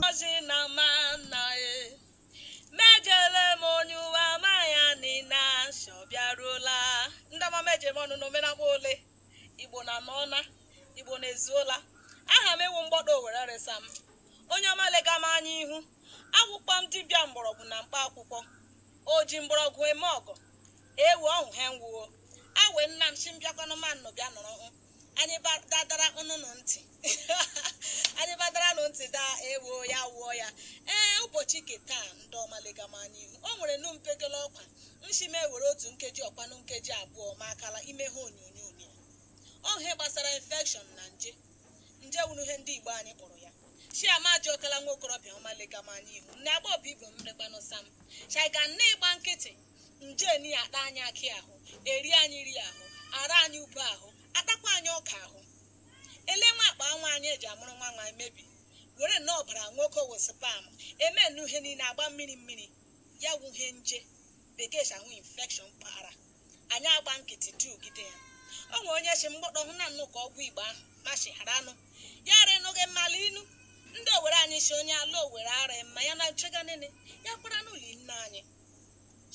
ozi na ma nna e mejele m onye uwe ama ya nina nsọ bịaruola ndị ọma meje m ọnụ n'omenakwa ole igbo na n'ọna igbo na ezuola aha m wụ mgbọdọ owere resa m onye ọma lega m anya ihu akwụkwọ m dibịa mgbọrọgwụ na mkpa akwụkwọ o ji mgbọrọgwụ eme ọgwụ Ewo ọhụ he nwụo. Awe nnam si mbịakwanụ ma nnụ bịa nụrụ hụ. Anyị ba dadara nnụnụ ntị. Anyị badara nụ ntị daa ewo ya wụọ ya. Ee ụbọchị ke taa ndị ọma lega m anya ihu. O nwerenụ mpekele ọkwa. Nshi m were otu nkeji ọkwanụ nkeji abụọ ma akala ime ha onyonyo onyonyo. Ọ wụ he gbasara infection na nje. Nje wụrụ ihe ndị Igbo anyị kpọrọ ya. Chiama Ajọkala nwa okorobịa ọma lega m anya ihu. Nne agbọghọbịa ibe m rekwanụ sam. Shaiga nne ịgba nkịtị. nje ni akpa anyị akị ahụ eri anyị ri ahụ ara anyị ube ahụ atakwa anyị ọka ahụ ele nwa akpa nwa anyị eji amụrụ nwa nwa emebi were nnọọ ọbara nwoke wụ sperm eme nnu ihe niile agba mmiri mmiri ya wụ ihe nje bekee si ahụ infection kpara anyị agba nkịtị tugide ya o nwere onye si mgbọdọ hụ na nnụ ka ọgwụ igbo ahụ mashi hara anụ ya ara enụghị mmalụ inu ndị owere anyị si onye ala owere ara mma ya na nchega nene ya kwara n'ụlọ nne anyị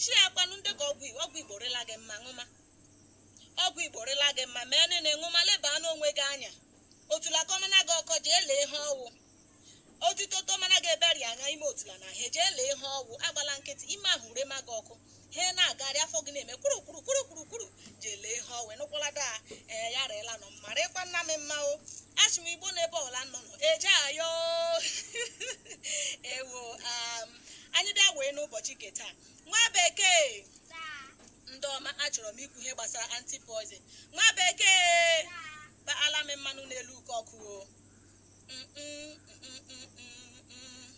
Shia kwanu ndị ka ọgwụ ọgwụ Igbo rịla gị mma ṅụma. Ọgwụ Igbo rịla gị mma mee nene ṅụma lebaa n'onwe gị anya. Otula kọmana gị ọkọ jee lee ihe ọ wụ. Otito tomana gị ebe rị anya ime otula na he jee lee ihe ọ wụ agbala nkịtị ime ahụ rema gị ọkụ. He na-agagharị afọ gị na-eme kwuru kwuru kwuru kwuru kwuru jee lee ihe ọ wụ nụkwala daa ee ya rịla nọ mma rịkwa nna m mma o. Achị m Igbo n'ebe ọla nọ nọ eje ayọ ewo am anyị bịa wee n'ụbọchị nke taa nwa bekee ndị ọma achọrọ m ikwu ihe gbasara anti-poison nwa bekee gbaala m mmanụ n'elu uke ọkụ o Mm, mm, mm, mm, mm, mm.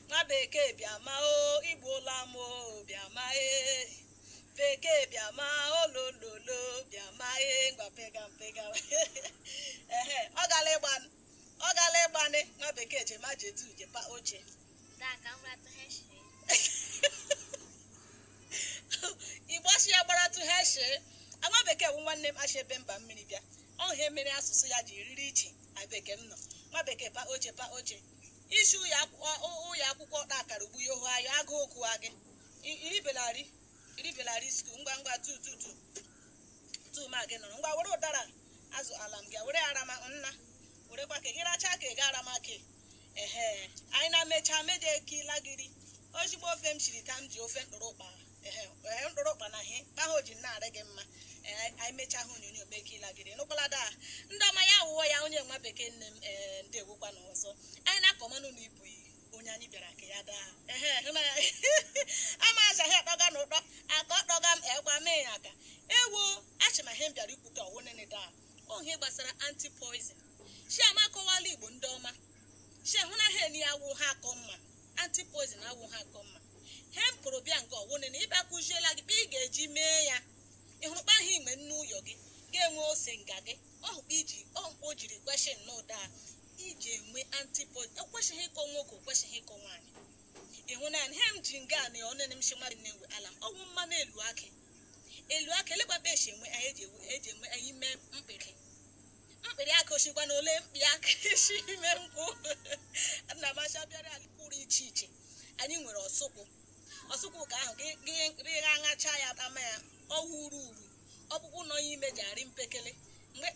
nwa bekee bịa ma o igbuola m o bịa ma e bekee bịa ma olololo bịa ma e ngwa pega m pega ehe ọ gala ịgba Ọ gala ịgbanị nwa bekee je ma je tu je pa oche. Daa ka m ratụ ha echi. Igbo sị ya gbara tu ha echi. Nwa bekee wụ nwanne m shi ebe mba mmiri bịa. Ọ ihe mere asụsụ ya ji riri iche na bekee m nọ. Nwa bekee pa oche pa oche. I si ụyọ akwụkwọ ụyọ akwụkwọ ọkpa akara ugbu ya ohu ayọ agụụ gụwa gị. I- I ribela ri i ribela ri school ngwa ngwa tu tu tu. tuma gị nụrụ ngwa were ụdara azụ ala m gị were arama nna werekwa ka gị rachaa ka ị ga arama ka ehe anyị na mechaa meje ka ịla gịrị ozigbo ofe m shiri ka m ji ofe mkpụrụ ụkpa ehe ehe, mkpụrụ ụkpa na ihe kpaha o ji na-arị gị mma ee anyị mechaa ha onyonyo mee ka ịla gịrị nụkwala daa ndị ọma ya wụọ ya onye nwa bekee nne m ee ndewokwanụ ọzọ anyị na-akọmanụ na ibu iyi onye anyị bịara ka ya daa ehe hụla ya ama azaghị akpọga na ụtọ aka ọkpọga m ekwa mee ya aka ewo achị ma ihe m bịara ikwu ka ọwụ nene daa ọ ihe gbasara anti poison chi ama akọwala igbo ndị ọma chi hụ na ha eni awụ ha akọ mma anti poison awụ ha akọ mma he m kụrụ bịa nke ọwụ nene ịbịa kụziela gị kpa ị ga-eji mee ya ị hụrụ kpa ahụ iji enwe nnu ụyọ gị ga-enwe ose nga gị ọ hụ kpa iji ọ hụ kpa o jiri kwesị nnọọ daa iji enwe anti poison ekwesịghị ịkọ nwoke o kwesịghị ịkọ nwaanyị ịhụ na ihe m ji nga na ọnụ m shima dị na-enwe ala m ọ wụ mmanụ elu akị elu akị elegbakpa esi enwe anyị eji enwe eji enwe anyị ime mkpịrị mkpịrị akị osikwa na ole mkpị akị si ime nkwụ nna m acha bịara anyị pụrụ iche iche anyị nwere ọsụkwụ ọsụkwụ ka ahụ gị gị gị aṅacha ya tama ya ọ wụ uru uru ọkpụkpụ nọ ya ime ji arị mpekele mgbe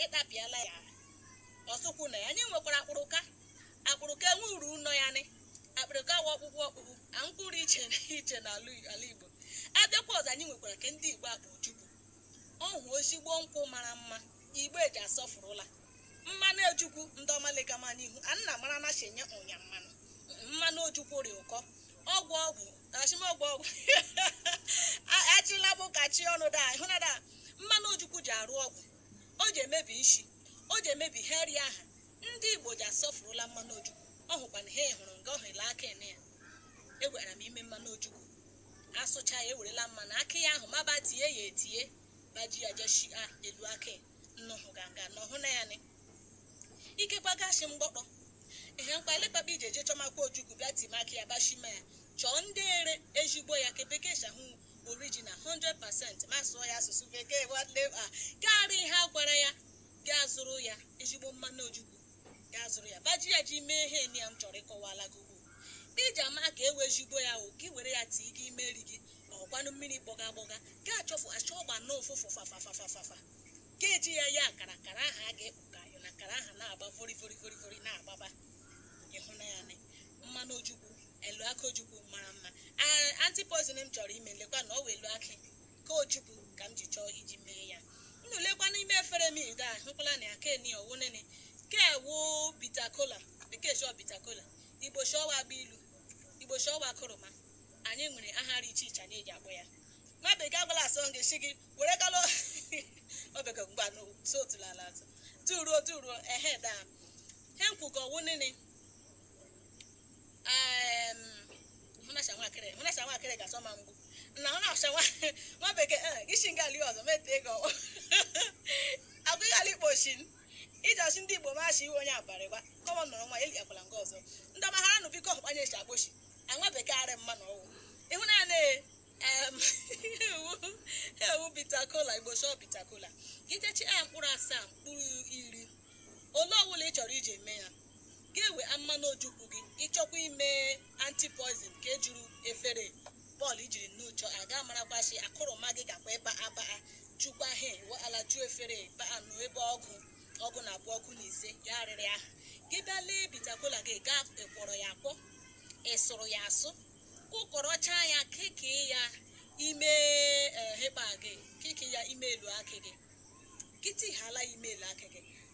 ị tapịala ya ọsụkwụ na ya anyị nwekwara akpụrụka akpụrụka enwe uru nọ ya nị akpụrụka wa ọkpụkpụ ọkpụkpụ a mkpụrụ iche na iche n'ala ala igbo abịakwa ọzọ anyị nwekwara ke ndị igbo akpọ ojukwu ọ hụ ezigbo nkwụ mara mma igbo ji asọfụrụla mmanụ ojukwu ndị ọma legama n'ihu a nna mara na chenye ụnya mmanụ mmanụ ojukwu rị ụkọ ọgwụ ọgwụ ashị m ọgwụ ọgwụ achịla bụ ka chi ọnụ da ịhụ na da mmanụ ojukwu ji arụ ọgwụ o ji emebi nshi o ji emebi ihe eri aha ndị igbo ji asọfurula mmanụ ojukwu ọ hụkwa na ha hụrụ nga ọhụ ile akị eni ya egwara m ime mmanụ ojukwu asụcha ya ewerela mmanụ akị ya ahụ maba tie ya etie baji ya jeshi a elu akị nnụhụ ganga n'ọhụ na ya ni ikekwa gashi mgbọkpọ ihe mkpa elekwa kpa iji je chọmakwa ojukwu bịa timaka ya bashima ya chọọ ndị ere ezigbo ya ke bekee shị ọ hụ original 100% m asụọ ya asụsụ bekee nwanne m karịa ihe a gwara ya gaa zụrụ ya ezigbo mmanụ ojukwu gaa zụrụ ya baji ya ji mee ihe eni ya m chọrọ ịkọwala gị ugbu a. iji ama ka ọ wụ ezigbo ya o ka i were ya tii gị ime nri gị ọkwanụ mmiri gbọga gbọga gaa chọfụ achọ ọ gba na ụfụfụ fafafafafafa ga-eji ya ya akara akara ahụ a ga-ekpu ka ayọ na akara ahụ na-agba vori vori vori vori na-agbaba ị hụna ya mmanụ ojukwu elu akị ojukwu mara mma anti-poison m chọrọ ime lekwa na ọ wụ elu akị ojukwu ka m ji chọọ iji mee ya unu lekwa n'ime efere m ide a hụkwala na ya keni ọwụnene ke wụ bitter kola bekee shọ bitter kola igbo shọwa agba ilu igbo shọwa akụrụma anyị nwere aha dị iche iche anyị ji akpọ ya nwa bekee agbala asọ gị si gị were kalụ obeke mgba n'otu ala atụ turuo turuo ehe daa he nkwukọ wụ nene Em, hụnasha nwakịrị hụnasha nwakịrị ga-asọ ma mgbu na hụnasha nwa bekee eh, gị shi nga ali ọzọ mete gị ọkpọ agụghị ala ikpo shin iji ọchị ndị igbo machi iwe onye abalị gwa kọmọ nọrọ nwa eli akwala nga ọzọ ndị ọma hara nụ biko ọkpanye echi agbochi anwa bekee arị mma na ọwụ ịhụ na na em, ewu ewu bitter kola igbo shọ bitter kola gị jechi ya mkpụrụ asaa mkpụrụ iri ole ọwụla ị chọrọ iji eme ya Ga-ewe mmanụ ojukwu gị, ị chọkwa ime anti-poison ke juru efere bọọlụ ijiri nnuchọ a ga-amarakwashi akụrụma gị gakwa ịba abaa jukwa he wụ ala ju efere baa nụ ebe ọgụ ọgụ na abụọ ọgụ na ise ya arịrị aha gị bịa lee bitter kola gị gaa ị kwọrọ ya akwọ ị sụrụ ya asụ kụkọrọchaa ya keke ya ime hekpa gị keke ya ime elu akị gị gị tihala ime elu akị gị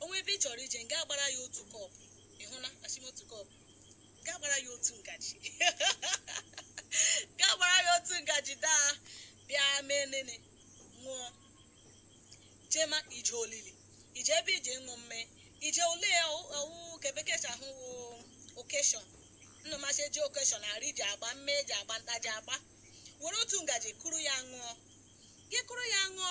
o nwee ebe ị chọrọ ije ga-agbara ya otu kọpụ ị hụna ashị m otu kọpụ ga agbara ya otu ngaji ga agbara ya otu ngaji daa bịa mee nene ṅụọ jema ije olili ije ebe ije ṅụ mme ije ole ọwụ ke bekee sị ahụ wụ occasion nna masị eji occasion arị ji agba mme eji agba nta ji agba were otu ngaji kụrụ ya ṅụọ gị kụrụ ya ṅụọ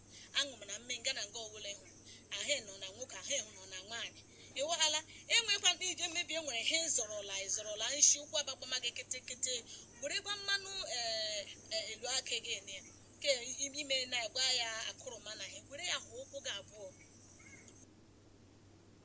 aṅụ m na mme nga na nga ọwụla ịhụ ahụ nọ na nwoke ahụ ịhụ nọ na nwaanyị ịwaghala enwekwa ndị ije mmebi e nwere ihe ị zọrọla ị zọrọla nshi ụkwụ agbakwama gị kịtịkịtị werekwa mmanụ ee, ee, elu akị gị ene ke i mena gwa ya akụrụma na ihe were ya hụ ụkwụ gị abụọ